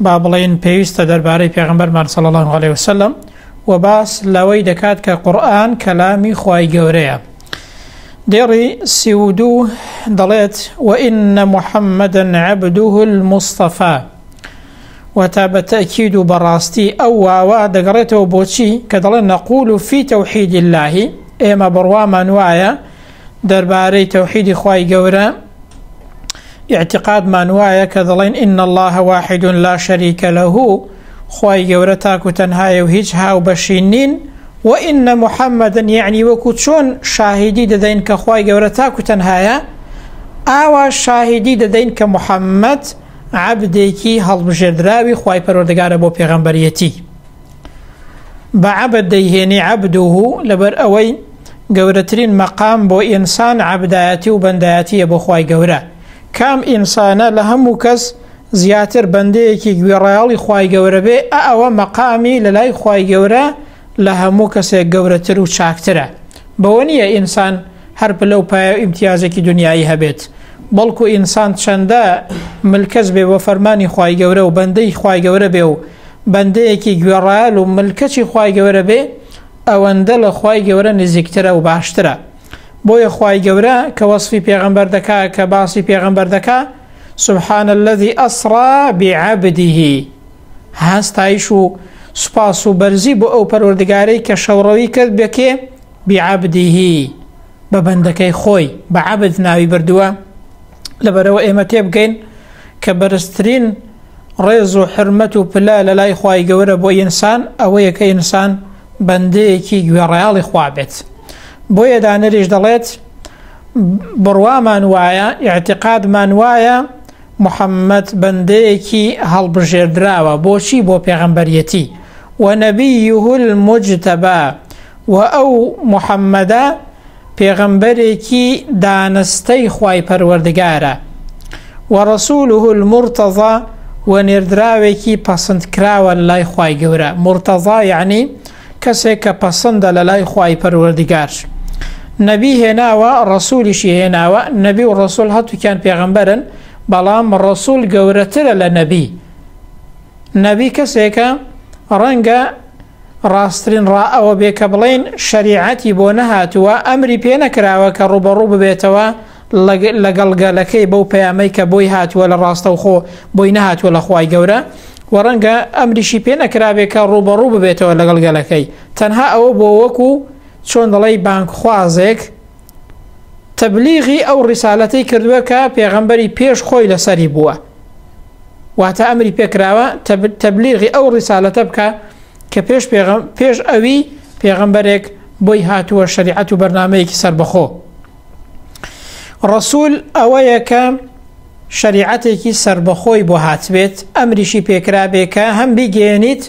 با بڵێین پێویستە دەربارەی پێغەمبەرمان صلی اللە علیە وسلم و باس لەوەی دەکات کە قورئان کەلامی خوای گەورەیە دێڕی سی و دوو دەڵێت وئینە محەممەدن عەبدوه المستەفا و تا بە تەکید و بەڕاستی ئەو واوە دەگەڕێتەوە بۆچی کە دەڵێن نەقول و فی تەوحید اللهی ئێمە بڕوامان وایە دەربارەی تەوحیدی خوای گەورە ئیعتیقادمان وایە کە دەڵێن ان الله واحد لا شریک له خوای گەورە تاک و تەنهایە و هیچ هاو بەشی نین و ان محمدن یعنی وەکو چۆن شاهیدی دەدەین کە خوای گەورە تاک و تەنهایە ئاوا شاهیدی دەدەین کە محەممەد عبدێکی هەڵبژێردراوی خی پەرۆردگارە بۆ پێغەمبەرەتی بە عەبد دەیهێنی عەبدوه لەبەر ئەوەی گەورەترین مەقام بۆ ئینسان عەبدایەتی و بەندایەتیە بۆ خوای گەورە کام ئینسانە لە هەموو کەس زیاتر بەندەیەکی گوێڕایەڵی خوای گەورە بێ ئە ئەوە مەقامی لە لای خوای گەورە لە هەموو کەسێک گەورەتر و چاکترە بەوە نییە ئینسان هەر پلە و پایە و ئیمتیازێکی دنیایی هەبێت بەڵکو ئینسان چەندە ملکەچ بێ بۆ فەرمانی خوای گەورە و بەندەی خوای گەورە بێ و بەندەیەکی گوێڕایەل و ملکەچی خوای گەورە بێ ئەوەندە لە خوای گەورە نزیکترە و باشترە بۆیە خوای گەورە کە وەسفی پێغەمبەر دەکا کە باسی پێغەمبەر دەکا سبحان الذي أسرى بعبده هەستایش و سوپاس و بەرزی بۆ ئەو پەروەردگارەی کە شەوڕەوی کرد بەکێ بعبده بە بەندەکەی خۆی بە عبد ناوی بردووە لەبەرەوە ئێمە تێبگەین کە بەرزترین ڕێز و حرمەت و پلا لە لای خی گەورە بۆ ئینسان ئەوەیە کە ئینسان بەندەیەکی گوێڕایاڵی خوا بێت بۆیە دانریش دەڵێت بڕوامان وایە ئاعتقادمان وایە محەممەد بەندەیەکی هەڵبژێردراوە بۆچی بۆ پێغەمبەرەتی و نەبی یهول مجتەبا و ئەو محەممەدا پێغەمبەرێکی دانستەی خوای پەروەردگارە، و رسوله المرتضی و نێردراوێکی پەسند کراوە لەلای خوای گەورە، مرتضی یەعنی کەسێک کە پەسندە لەلای خوای پەروەردگار، نەبی هێناوە رسولیشی هێناوە، نەبی و رسول هەتوکیان پێغەمبەرن بەڵام رسول گەورەترە لە نەبی، نەبی کەسێکە رەنگە، ڕاستترین ڕا ئەوە بێ کە بڵێین شەریعەتی بۆ نەهاتووە، ئەمری پێ نەکراوە کە ڕووبەڕوو ببێتەوە لەگەڵ گەلەکەی بەو پەیامەی کە بۆی هاتووە لە ڕاستەوخۆ بۆی نەهاتووە لە خوای گەورە، وە ڕەنگە ئەمریشی پێ نەکرابێ کە ڕووبەڕوو ببێتەوە لەگەڵ گەلەکەی، تەنها ئەوە بۆ وەکو چۆن دەڵێی بانگخوازێک تەبلیغی ئەو ڕیسالەتەی کردووە کە پێغەمبەری پێش خۆی لەسەری بووە. واتە ئەمری پێکراوە تەبلیغی ئەو ڕیسالەتە بکە کە پێش پێش ئەوی پێغەمبەرێک بۆی هاتووە شریعەت و بەرنمەیەکی سربەخۆ ڕسول ئەوەیە کە شریعەتێکی سربەخۆی بۆ هاتبێت ئەمریشی پێکرابێ کە هەم بیگەێنیت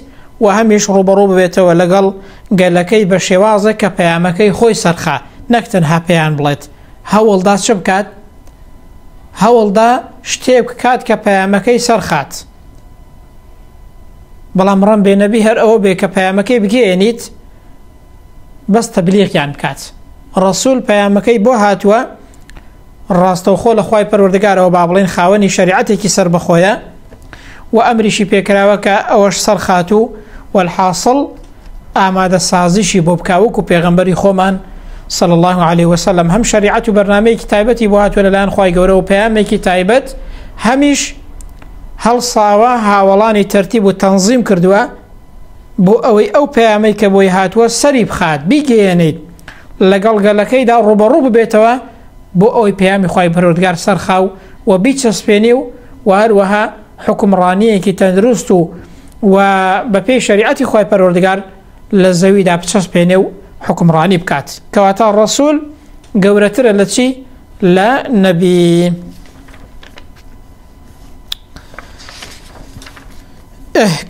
و هەمیش ڕوبەڕوو ببێتەوە لەگەڵ گەلەکەی بە شێوازە کە پەیامەکەی خۆی سەرخە نەکتەنها پێیان بڵێت هەوڵدا چ بکات؟ هەوڵدا شتێک بکات کە پەیامەکەی سەرخات. بەڵام ڕەم بێ نەبی هەر ئەوە بێ کە پەیامەکەی بگەێنیت بەس تەبلیغیان بکات. ڕسول پەیامەکەی بۆ هاتووە ڕاستەوخۆ لە خی پەروەردەگارەوە با بڵێن خاوەنی شریعەتێکی سەر بەخۆیە و ئەمریشی پێکراوە کە ئەوەش سەرخات و وەحاصل ئامادە سازیشی بۆ بکا وەکو پێغەمبەری خۆمان صلی الله عليه وسلم هەم شریعەت و بەرنمەیەکی تایبەتی بۆ هاتووە لەلایەن خی گەورە و پەیامێکی تایبەت هەمیش هەڵساوە هاوڵانی تەرتیب و تەنظیم کردووە بۆ ئەوەی ئەو پەیامەی کە بۆی هاتووە سەری بخات بیگەیەنیت لەگەڵ گەلەکەیدا ڕوبەڕوو ببێتەوە بۆ ئەوەی پەیامی خی پەرۆردگار سەرخاو و بیچەسپێنێ و وهروەها حوکمڕانیەکی تەندروست و و بەپێی شەریعەتی خۆی پەروەردگار لە زەویدا بچەسپێنێ و حکمڕانی بکات کەواتە ڕسول گەورەترە لە چی لە نەبی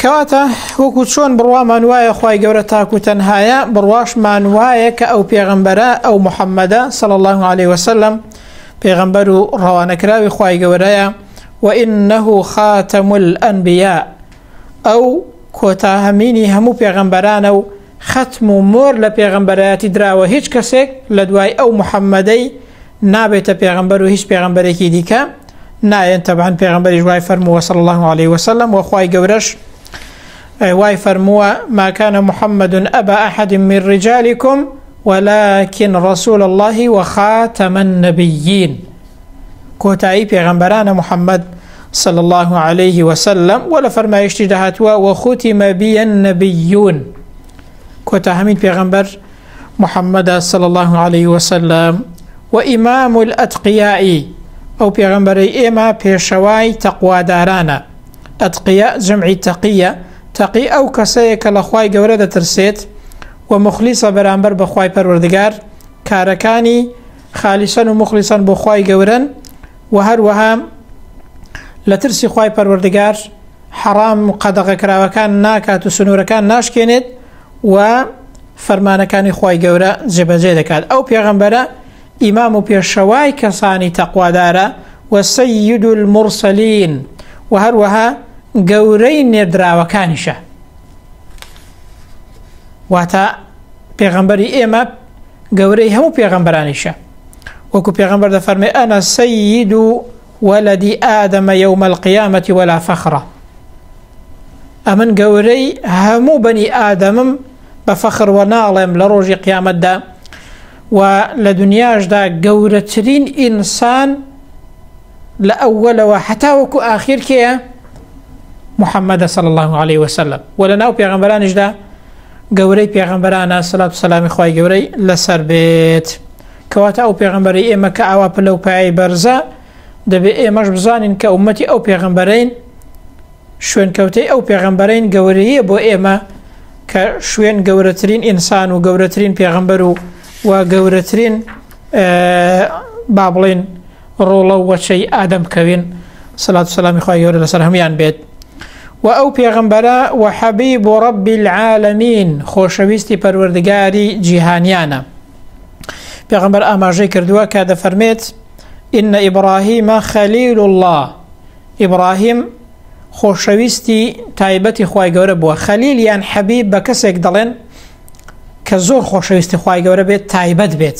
کەواتە وەکو چۆن بڕوامان وایە خی گەورە تاکو تەنهایە بڕواشمان وایە کە ئەو پێغمبەرە ئەو محەممەدە سەڵ الله عليه وسلم پێغمبەر و ڕەوانەکراوی خی گەورەیە وانه خاتم الانبیاء، ئەو کۆتا هەمینی هەموو پێغەمبەرانە و خەتم و مۆر لە پێغەمبەرایەتی دراوە هیچ کەسێک لە دوای ئەو محمدەی نابێتە پێغەمبەر و هیچ پێغەمبەرێکی دیکە نایەن تەبعەن پێغەمبەریش وای فەرمووە صلی اللە علیه وسلم وە خوای گەورەش وای فەرمووە ما كان محمد أبا أحد من رجالكم ولكن رسول الله وخاتم النبيين کۆتایی پێغەمبەرانە محمد صلی الله علیه و سلم و لە فەرمایشتی دەهاتوە و ختم بی النبیون کۆتا هەمین پێغەمبەر محمد صلی الله علیه و سلم و امام الاتقیائی ئەو پێغەمبەرەی ئێمە پێشەوای تەقوادارانە ئەتقیە جمعی تەقیە تەقی ئەو کەسەیە کە لە خی گەورە دەترسێت و مخلیسە بەرامبەر بەخوای پەروەردگار کارەکانی خالیسەن و موخلیسەن بۆ خوای گەورەن وە هەروەها لە ترسی خوای پەروەردگار حەڕام و قەدەغەکراوەکان ناکات و سنوورەکان ناشکێنێت و فەرمانەکانی خوای گەورە جێبەجێ دەکات ئەو پێغەمبەرە ئیمام و پێشەوای کەسانی تەقوادارە و سید المرسلین و هەروەها گەورەی نێردراوەکانیشە واتە پێغەمبەری ئێمە گەورەی هەموو پێغەمبەرانیشە وەکو پێغەمبەر دەفەرمێ ئەنە سەید و وەلەدی ئادەمە یەومەل قیامەتی وەلا فەخڕە ئەمن گەورەی هەموو بەنی ئادەمم بە فەخڕوە ناڵێم لە ڕۆژی قیامەتدا و لە دنیاشدا گەورەترین ئینسان لە ئەوەلەوە حتا وەکو ئاخیر کێە محەممەدە سەڵ الله عليه وسلم و لە ناو پێغەمبەرانیشدا گەورەی پێغەمبەرانە سەلات و سەلامی خوای گەورەی لەسەر بێت کەواتە ئەو پێغەمبەری ئێمە کە ئاوا پلە و پایەی بەرزە دەبێ ئێمەش بزانین کە ئومەتی ئەو پێغەمبەرین شوێنکەوتەی ئەو پێغەمبەرین گەورەیە بۆ ئێمە کە شوێن گەورەترین ئینسان و گەورەترین پێغەمبەر و و گەورەترین با بڵێن ڕۆڵە و وەچەی ئادەم کەوین سەلات و سەلامی خوای گەورە لەسەر هەموان بێت و ئەو پێغەمبەرە و حەبیب و ڕەبی العالمین خۆشەویستی پەروەردگاری جیهانیانە پێغەمبەر ئاماژەی کردووە کە دەفەرمێت ئینە ئیبراهیمە خەلیل الله ئیبراهیم خۆشەویستی تایبەتی خی گەورە بووە خەلیل یان حەبی بە کەسێک دەڵێن کە زۆر خۆشەویستی خی گەورە بێت تایبەت بێت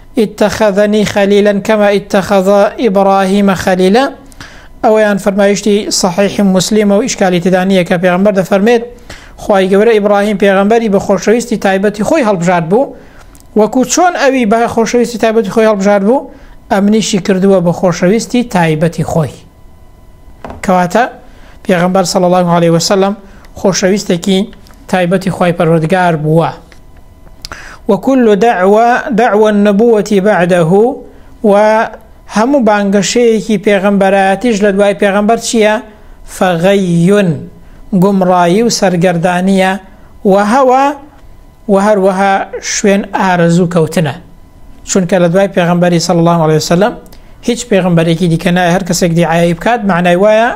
اتخذنی خلیلا کما اتخذ ابراهیم خلیلا ئەوەیان فەرمایشتی صحیح مسلمە و ئیشکالی تێدا نییە کە پێغمبەر دەفەرمێت خوای گەورە ئیبراهیم پێغمبەری بە خۆشەویستی تایبەتی خۆی هەڵبژارد بوو وەکو چۆن ئەوی بە خۆشەویستی تایبەتی خۆی هەڵبژارد بوو ئەمنیشی کردووە بە خۆشەویستی تایبەتی خۆی کەواتە پێغەمبەر صلی الله علیه وسلم خۆشەویستێکی تایبەتی خوای پەروەردگار بووە وكل دعوة دعوة النبوة بعده و هەموو بانگەشەیەکی پێغەمبەرایەتیش لە دوای پێغەمبەر چییە؟ فەغەیون گومڕایی و سەرگەردانیە وهوە وە هەروەها شوێن ئارەزوو کەوتنە چونکە لە دوای پێغمبەری صلی الله عليه وسلم هیچ پێغمبەرێکی دیکە نایە هەر کەسێک دیعایی بکات معنای وایە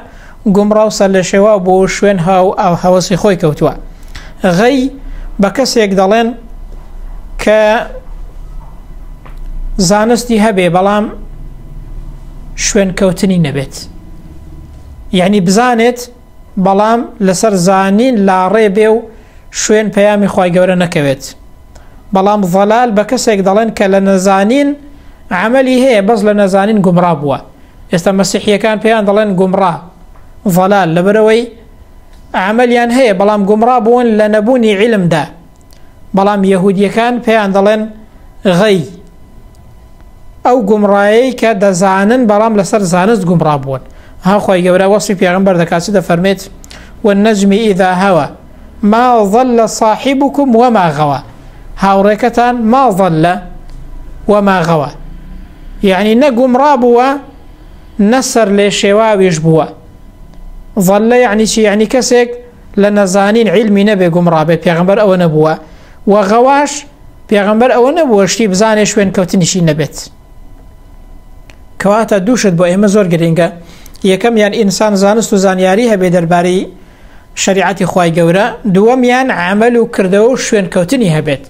گومڕاو سەر لە شێوا بۆ شوێن ها و ئاو هەوەسی خۆی کەوتووە غەی بە کەسێک دەڵێن کە زانستی هەبێ بەڵام شوێن کەوتنی نەبێت یعنی بزانێت بەڵام لەسەر زانین لاڕێ بێ و شوێن پەیامی خوای گەورە نەکەوێت بەڵام ضلال بە کەسێک دەڵێن کە لە نەزانین عملی هەیە بەس لە نەزانین گومڕا بووە ئێستا مەسیحیەکان پێیان دەڵێن گومڕا ضلال لەبەرەوەی عملیان هەیە بەڵام گومڕا بوون لە نەبوونی علمدا بەڵام یەهودیەکان پێیان دەڵێن غەی ئەو گومڕایەی کە دەزانن بەڵام لەسەر زانست گومڕا بوون هاخوای گەورە وەسی پێغمبەر دەکات چ دەفەرمێت والنجم إذا هوا ما ظل صاحبكم وما غوا هاوڕێکەتان ما ظل وما غوا یعنی نە گومڕا بووە نەسەر لێ شێواویش بووە ظل یعنی چی یعنی کەسێک لە نەزانین عیلمی نەبێ گومڕابێت پێغەمبەر ئەوە نەبووە و غەواش پێغەمبەر ئەوە نەبووە شتی بزانێ شوێن کەوتنیشی نەبێت کەواتە دووشت بۆ ئێمە زۆر گرنگە یەکەمیان ئینسان زانست و زانیاری هەبێ دەربارەی شریعەتی خی گەورە دووەمیان عمل و کردەوە و شوێن کەوتنی هەبێت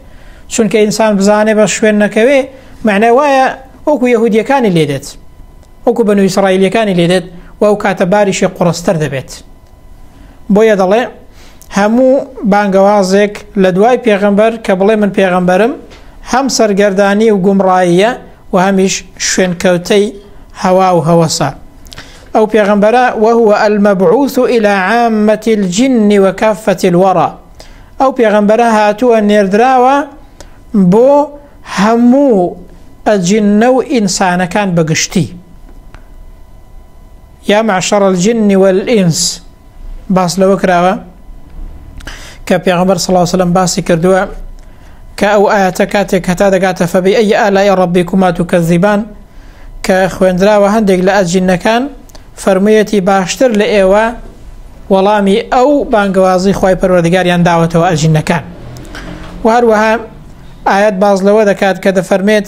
چونکە ئینسان بزانێ بە شوێن نەکەوێ معنای وایە وەکو یهودیەکانی لێدێت وەکو بە نوویسڕائیلەکانی لێدێت و ئەو کاتە باریشی قڕستەر دەبێت بۆیە دەڵێ هەموو بانگەوازێک لە دوای پێغەمبەر کە بڵێ من پێغەمبەرم هەم سەرگەردانی و گومڕاییە و هەمیش شوێنکەوتەی هەوا و هەوەسە ئەو پێغەمبەرە وهو المبعوث الى عامة الجن وكافة الورى ئەو پێغەمبەرە هاتووە نێردراوە بۆ هەموو ئەجنە و ئینسانەکان بەگشتی یا معشر الجن والانس باس لەوە کراوە کە پێغمبەر صلی الله وسلم باسی کردووە کە ئەو ئاەتە کاتێک هەتا دەگاتە فەبی ئەی ئالای ڕبی کومات و کەزیبان کە خوێندراوە هەندێک لە ئەجینەکان فەرموویەتی باشتر لە ئێوە وەڵامی ئەو بانگەوازی خی پەروەردگاریان داوەتەوە ئەجینەکان و هەروەها ئاەت باز لەوە دەکات کە دەفەرمێت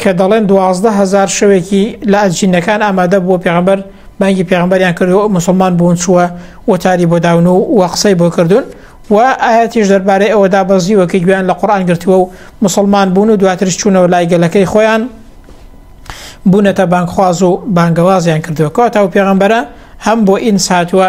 کە دەڵێن دوازدە هزار شەوێکی لە ئەجینەکان ئامادە بووە پێغمبەر بانگی پێغمبەریان کرد و مسلمان بوون چووە وەتاری بۆ داون و وە قسەی بۆ کردوون و ئاەتیش دەربارەی ئەوەدا بەزیوە کە گویان لە قورآان گرتووە و مسلمان بوون و دواترش چوونەوە لای گەلەکەی خۆیان بوونەتە بانگخواز و بانگەوازیان کردووە کەواتە و پێغمبەرە هەم بۆ ئینساتوە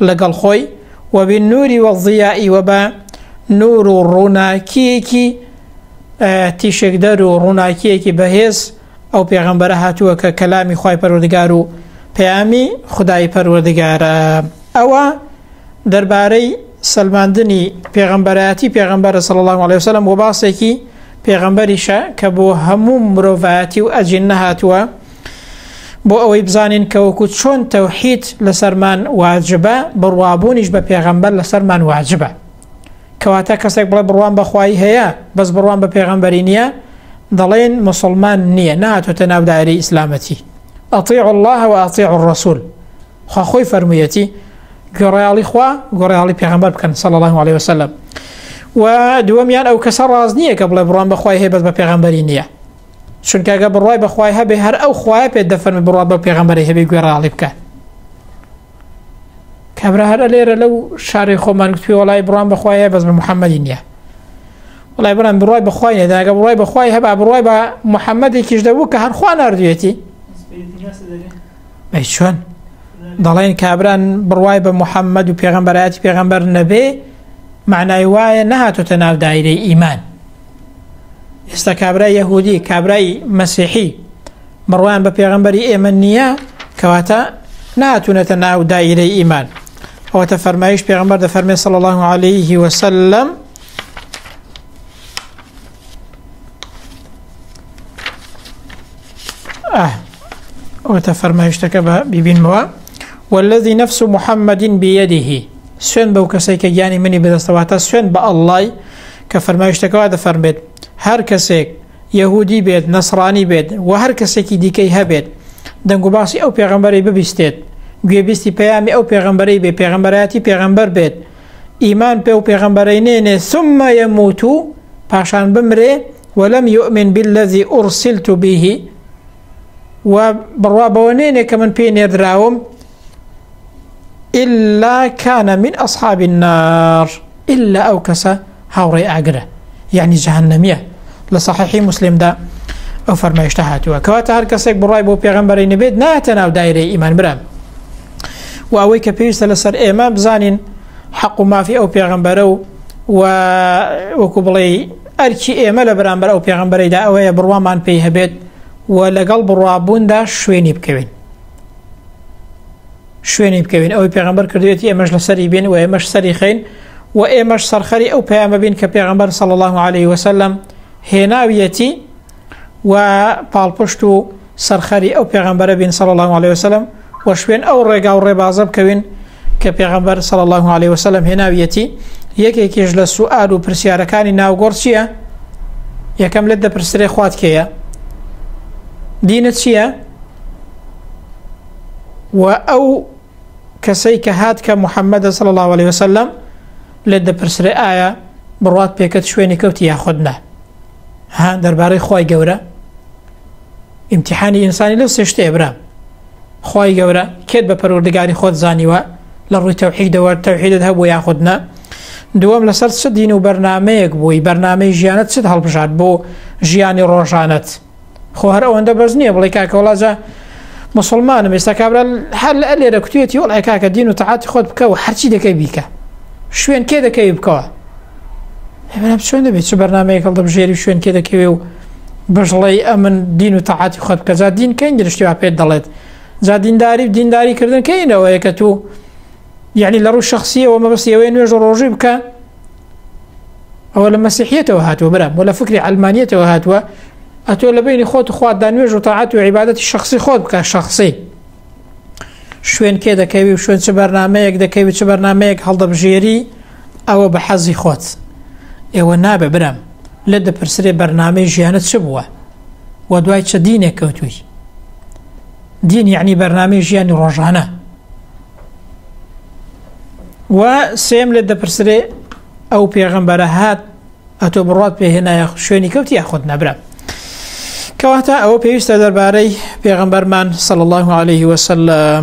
لەگەڵ خۆی و بالنور والضیاء و بە نور و ڕووناکییەکی تیشکدەر و ڕووناکییەکی بەهێز ئەو پێغەمبەرە هاتووە کە کەلامی خوای پەروەردگار و پەیامی خودای پەروەردگارە ئەوە دەربارەی سەلماندنی پێغەمبەرایەتی پێغەمبەرە صلی الله علیه وسلم و باسێکی پێغەمبەریشە کە بۆ هەموو مرۆڤایەتی و ئەجین نەهاتووە بۆ ئەوەی بزانین کە وەکو چۆن تەوحید لەسەرمان واجبە بڕوابوونیش بە پێغەمبەر لەسەرمان واجبە کەواتە کەسێک بڵێ بڕوان بەخوای هەیە بەس بڕوان بە پێغەمبەری نییە دەڵێن مسلمان نییە ناتۆتە ناو دایری ئیسلامەتی ئەطیع الله و ئەطیع الرسول خوا خۆی فەرموویەتی گۆڕیاڵی خوا گۆڕیاڵی پێغەمبەر بکەن صلی الله عليه وسلم و دووەمیان ئەو کەسە ڕاز نییە کە بڵێ بڕوان بەخوای هەیە بەس بە پێغەمبەری نییە چونکە گە بڕوای بەخوای هەبێ هەر ئەو خوایە پێ دەفەرمی بڕات بە پێغەمبەری هەبێ گوێڕاڵی بکە کابرا هەرە لێرە لەو شارەی خۆمان گوتوی وڵی بڕان بەخوایە بەس بە محەممەدی نییە وڵای بڕان بڕای بەخوای نێداگە بڕای بەخوای هەبا بڕای بە محەممەدێکیش دەبوو کە هەرخوا نردوێتی بە چۆن دەڵێن کابران بڕای بە محەممەد و پێغمبەرایەتی پێغمبەر نەبێ معنای وایە نەهاتۆتە ناو دایرەی ئیمان ئێستا کابرای یەهودی کابرای مەسیحی بڕوان بە پێغمبەری ئێمە نییە کەواتە ناتونەتە ناو دایرەی ئیمان ئەوەتە فەرمایش پێغمبەر دە فەرمێ سەڵ الله عليه وسلم ئەوەتە فەرمایشتەکە بە ببینمەوە والذی نفس محمد بيده سوێن بەو کەسێکە گیانی منی بدەستەواتە سوێن بە ئەلای کە فەرمایشتەکە وا دەفەرمێت، هەر کەسێک یەهودی بێت، نەسڕانی بێت و هەر کەسێکی دیکەی هەبێت دەنگوباسی ئەو پێغەمبەرەی ببیستێت، گوێبیستی پەیامی ئەو پێغەمبەرەی بێت، پێغەمبەرایەتی پێغەمبەر بێت، ئیمان پێ و پێغەمبەرەی نێنێ، ثم یموت، پاشان بمرێ، ولم یومن باللذی ارسلت به، و بڕوا بەوە نێنێ کە من پێی نێردراوم ئللا کانە من ئەصحابی النار ئللا ئەو کەسە هاوڕێ ئاگرە یعنی جەهنمیە لە صححی مسلمدا ئەو فەرمایشتە هاتووە کەواتە هەر کەسێک بڕای بۆ پێغمبەری نەبێت ناتە ناو دایرەی ئیمان برام و ئەوەی کە پێویستە لەسەر ئێمە بزانین حەق و مافی ئەو پێغمبەرە و و وەکو بڵێ ئەرکی ئێمە لە بەرامبەر ئەو پێغمبەرەیدا ئەوەیە بڕوامان پێی هەبێت و لەگەڵ بڕوابووندا شوێنی بکەوین شوێنی بکەوین ئەوەی پێغمبەر کردێتی ئێمەش لە سەری بین و ئێمەش سەری خین و ئێمەش سەرخەری ئەو پەیامە بین کە پێغمبەر سەڵ الله عليه وسلم هێناویەتی و پاڵپشت و سەرخەری ئەو پێغمبەرە بین سەڵ الله عليه وسلم و شوێن ئەو ڕێگا و ڕێبازە بکەوین کە پێغەمبەر صلی الله علیه وسلم هێناویەتی یەکێکیش لە سوئال و پرسیارەکانی ناوگۆڕ چییە یەکەم لێت دەپرسرێ خوات کێیە دینە چییە و ئەو کەسەی کە هات کە محەممەدە صلی الله عليه وسلم لێت دەپرسرێ ئایا بڕات پێکەت شوێنی کەوتی یاخودنا ها دەربارەی خی گەورە ئیمتیحانی ئینسانی لەو سێ شتەیە برام خوای گەورە کێت بە پەروەردگاری خۆت زانیوە لە ڕووی تەوحیدەوە تەوحیدت هەبوو یاخود نا دووەم لەسەر چ دین و بەرنمەیەک بووی بەرنمەی ژیانت چت هەڵبژات بۆ ژیانی ڕۆژانت خۆ هەر ئەوەندە بەس نییە بڵێ کاکەوەڵاجە مسلمانم ئێستا کابرا هەر لە لێرە کوتێتی وڵای کاکە دین و تەعاتی خۆت بکە و هەرچی دەکەی بیکە شوێن کێ دەکەوی بکەوە ئێمە چۆن دەبێت چ بەرنمەیە هەڵ دەبژێری شوێن کێ دەکەوێ و بەژڵی ئەمن دین و تەعاتی خۆت بکە جا دین کەین درشتی وا پێت دەڵێت جا دینداری و دینداری کردن کەینەوەیە کە تو یعنی لە ڕوو شخصیەوە مەبەست ئەوەیە نوێژ ڕۆژی بکە ئەوە لە مەسیحیتەوە هاتووە برا بۆ لە فکری ئەلمانیتەوە هاتووە ئەتۆ لە بینی خۆت خوات دا نوێژ و تاعات و عیباەتی شخصی خۆت بکە شخصی شوێن کێ دەکەوی و شوێن چ بەرنمەیەک دەکەوی چ بەرنمەیەک هەڵدەبژێری ئەوە بە حەزی خۆت ئێوە نابێ برام لێت دەپرسرێ بەرنامەی ژیانت چ بووە و دوای چە دینێک کەوتووی دین یعنی بەرنامەی ژیانی ڕۆژانە و سێم لێت دەپرسرێ ئەو پێغەمبەرە هات ئەتۆ بڕات پێ هێنایە شوێنی کەوت یا خۆت نەبرا کەواتە ئەوە پێویستە دەربارەی پێغەمبەرمان سەڵ الله عليه وسلم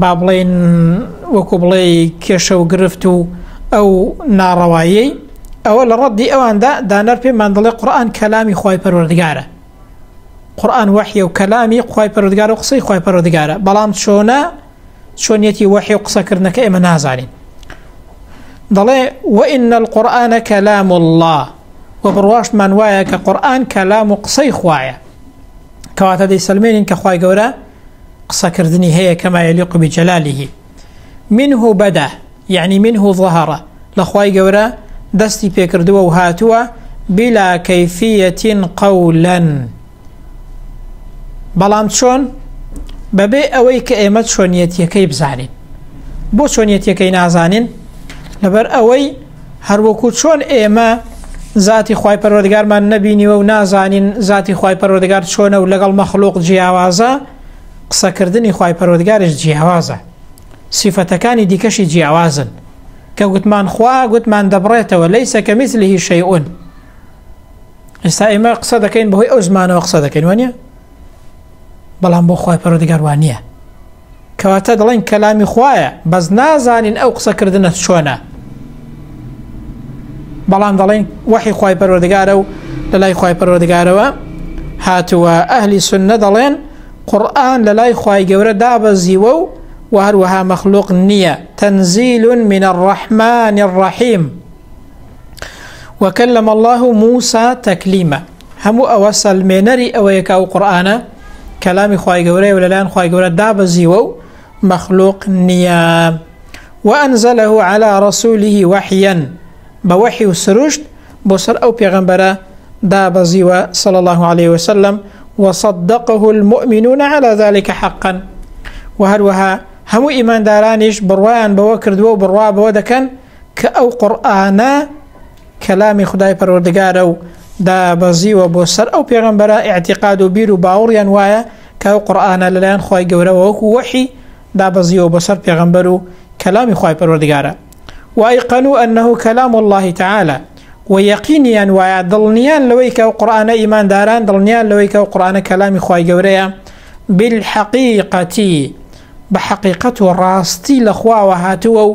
با بڵێین وەکو بڵێ کێشە و گرفت و ئەو ناڕەواییەی ئەوە لە ڕەدی ئەواندا دانەر پێمان دەڵێ قورآن کەلامی خی پەروەردگارە قورآن وەحی و کەلامی خی پەرودگار و قسەی خی پەرودگارە بەڵام چۆنە چۆنیەتی وەحی و قسەکردنەکە ئێمە نازانین دەڵێ وئین القورآانە کەلام الله و بڕواشمان وایە کە قورآن کەلام و قسەی خوایە کەواتە دەی سلمێنین کە خی گەورە قسەکردنی هەیە کەما یەلیق بجەلالیه منه بەدا یعنی منه ظهرە لەخوای گەورە دەستی پێکردووە و هاتووە بلا کەفیەتین قەولەن بەڵام چۆن بەبێ ئەوەی کە ئێمە چۆنیەتیەکەی بزانین بۆ چۆنیەتیەکەی نازانین لەبەر ئەوەی هەروەکو چۆن ئێمە زاتی خوای پەروەردگارمان نەبینیوە و نازانین زاتی خوای پەروەردگار چۆنە و لەگەڵ مەخلوق جیاوازە قسەکردنی خوای پەروەردگارش جیاوازە سیفەتەکانی دیکەشی جیاوازن کە گوتمان خوا گوتمان دەبڕێتەوە لی سەکە میسلیهی شەیئون ئێستا ئێمە قسە دەکەین بەهۆی ئەو زمانەوە قسە دەکەین وانە بەڵام بۆ خخوای پەرۆدگار وانە کەواتە دەڵێن کەلامی خوایە بەس نازانین ئەو قسە کردنە چۆنە بەڵام دەڵێن وەحی خی پەروەردگارە و لە لای خی پەروەردگارەوە هاتووە ئەهلی سنە دەڵێن قورآن لە لای خی گەورە دابەزیوە و و هەروەها مەخلوق نییە تەنزیل منە ڕەحمانی ڕەحیم وەکە لەمە الله و موسا تەکلیمە هەموو ئەوە سەلمێنەری ئەوەیە کە ئەو قورآانە کەلامی خی گەورەیە و لەلایەن خی گەورە دابەزیوە و مەخلوق نییە وەئەنزەلەه على ڕسوولیه وەحیەن بە وەحی و سروشت بۆ سەر ئەو پێغەمبەرە دابەزیوە سەڵ الله عليه وسلم وصدقه المؤمنون على ذلك حقا و هەروەها هەموو ئیماندارانیش بڕوایان بەوە کردووە و بڕوا بەوە دەکەن کە ئەو قورئانە کەلامی خودای پەروەردگارە و دابەزیوە بۆ سەر ئەو پێغەمبەرە ئیعتیقاد و بیر و باوەڕیان وایە کە ئەو قورئانە لەلایەن خوای گەورەوە وەکو وەحی دابەزیوە بۆ سەر پێغەمبەر و کەلامی خوای پەروەردگارە وایقەنو ئەنه کەلام الله تعالی و یەقینیان وایە دڵنیان لەوەی کە ئەو قورئانە ئیمانداران دڵنیان لەوەی کە ئەو قورئانە کەلامی خوای گەورەیە بالحقیقەتی بە حەقیقەت و ڕاستی لە خواوە هاتووە و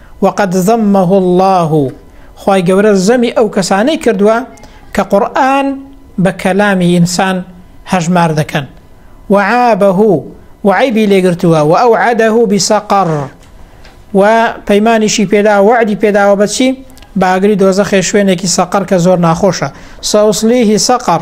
وقد ذمه اللە، خوای گەورە زەمی ئەو کەسانەی کردووە کە قورئان بە کەلامی ئینسان هەژمار دەکەن، وعابه، و عەیبی لێ گرتووە، وئەوعەدە بسقر، و پەیمانیشی پێداوە وەعدی پێداوە بە چی؟ بە ئاگری دۆزەخێ شوێنێکی سەقەر کە زۆر ناخۆشە، سأصلیه سقر،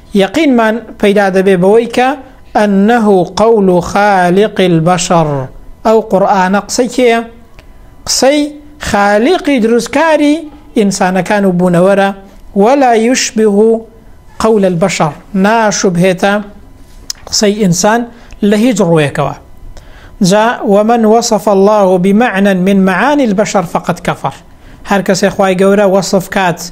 یەقینمان پەیدا دەبێ بەوەی کە، انه قول خالق البشر، ئەو قورئانە قسەی کێیە؟ قسەی خالیقی دروستکاری ئینسانەکان و بوونەوەرە، ولا یشبه قول البشر، ناشوبهێتە قسەی ئینسان لە هیچ ڕووێکەوە. جا، ومن وصف اللە بمعنی من معانی البشر فقد کفر، هەر کەسێ خوای گەورە وەسف کات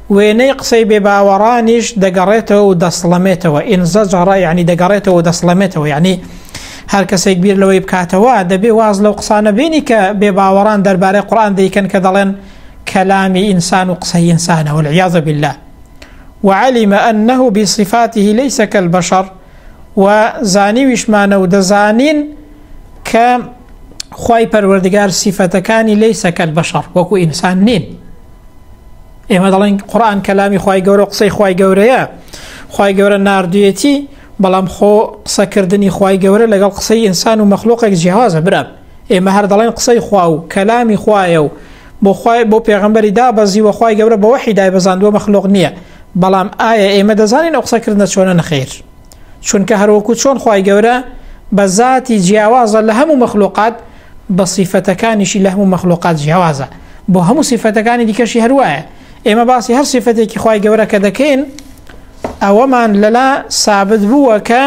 وێنەی قسەی بێ باوەڕانیش دەگەڕێتەوە و دەسڵەمێتەوە، انزجر، یەعنی دەگەڕێتەوە و دەسڵەمێتەوە، یەعنی هەر کەسێک بیر لەوەی بکاتەوە، دەبێ واز لەو قسانە بێنی کە بێ باوەڕان دەربارەی قورئان دەیکەن کە دەڵێن کەلامی ئینسان و قسەی ئینسانە، والعیاذ باللە، وعلم انه بصفاته لیس کالبشر، و زانیویشمانە و دەزانین کە خوای پەروەردگار سیفەتەکانی لیس کالبشر، وەکو ئینسان نین. ئێمە دەڵێن قڕان کەلامی خی گەورە قسەی خی گەورەیە خی گەورە نردویەتی بەڵام خۆ قسەکردنی خی گەورە لەگەڵ قسەی ئینسان و مەخلوقێک جیاوازە برام ئێمە هەر دەڵێن قسەی خوا و کەلامی خوایە و بۆ خی بۆ پێغمبەری دا بەزی وەخوای گەورە بەوەحی دای بەزاندوە مەخلوق نییە بەڵام ئایا ئێمە دەزانین ئەو قسەکردە چۆنە نەخیر چونکە هەروەکو چۆن خوای گەورە بە زاتی جیاوازە لە هەموو مەخلوقات بە سیفەتەکانیشی لە هەموو مەخلوقات جیاوازە بۆ هەموو سیفەتەکانی دیکەشی هەروایە ئێمە باسی هەر سیفەتێکی خوای گەورە کە دەکەین ئەوەمان لەلا سابت بووە کە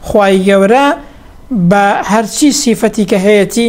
خوای گەورە بە هەرچی سیفەتی کە هەیەی